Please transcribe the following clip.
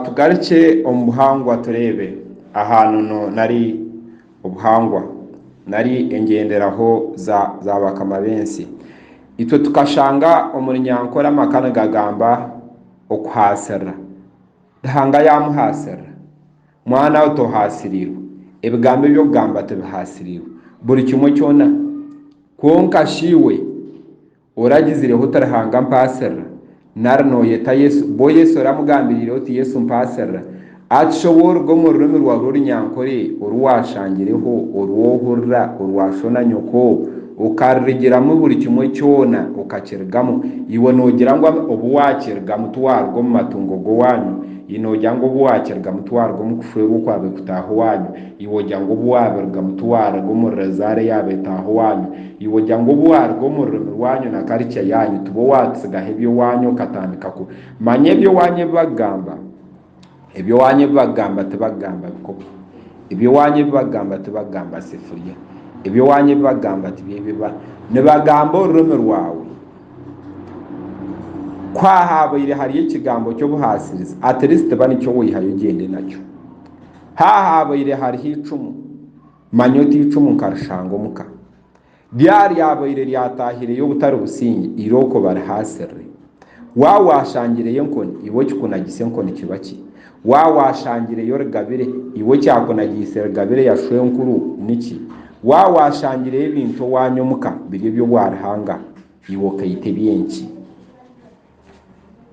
Tugarukye omu buhangwa tureebe aha nono nari obuhangwa nari engyenderaho za bakama b'ensi. Itwe tukashanga omuri nyankore amaka nigagamba okuhaasirira. Ruhanga yaamuhaasirira? Mwanaawe tohaasiriirwe. Ebigambo ebi okugamba tibihaasiriirwe. Buri kimwe kyona. Kwonka shi iwe? Oragizireho oti Ruhanga mpaasirira nari nooyeta Yesu bwo Yesu oramugambiriire oti Yesu mpaasirira Akisha ou oruga omu rurimi rwawe orunyankore oru waashangireho oru ohurira orwa sho na nyoko okarurigiramu buri kimwe kyona okakirigamu Iwe noogira ngu obu waakirigamu tiwaaruga omu matungo g'owaanyu Iwe noogira ngu obu waakirigamu tiwaaruga omu kushwerwa okwabaire kutaaha owaanyu Iwe ogira ngu obu waabirugamu tiwaaruga omu rezaara ya betaaho waanyu? Iwe ogira ngu obu waaruga omu rurimi rwanyu na karikya yaanyu tibo waatsigaho eby'owaanyu okatandika ku. Manya eby'owaanyu ebi bakugamba. Eby'owaanyu ebi bakugamba tibakugamba bikopo. Eby'owaanyu ebi bakugamba tibakugamba sefuriya. Eby'owaanyu ebi bakugamba tibyo ebi ba. Nibagamba orurimi rwawe. Ku haabaire hariyo ekigambo ky'obuhaasirizi, at least ba nikyo waihayo ogyende nakyo. Haahaabaire hariho eicumu, manya oti eicumu nkarishanga omu ka. Rya ryabaire ryataahireyo obutari busingye, eirooko barihaasirire. Waaba waashangireyo enkoni, iwe okikunagiise enkoni kiba ki? Waaba waashangireyo rigabire, iwe ekyakunagiise rigabire ya shwenkuru niki? Waaba waashangireyo ebintu owaanya omu ka biri eby'obwarihanga, iwe okaita eby'enki?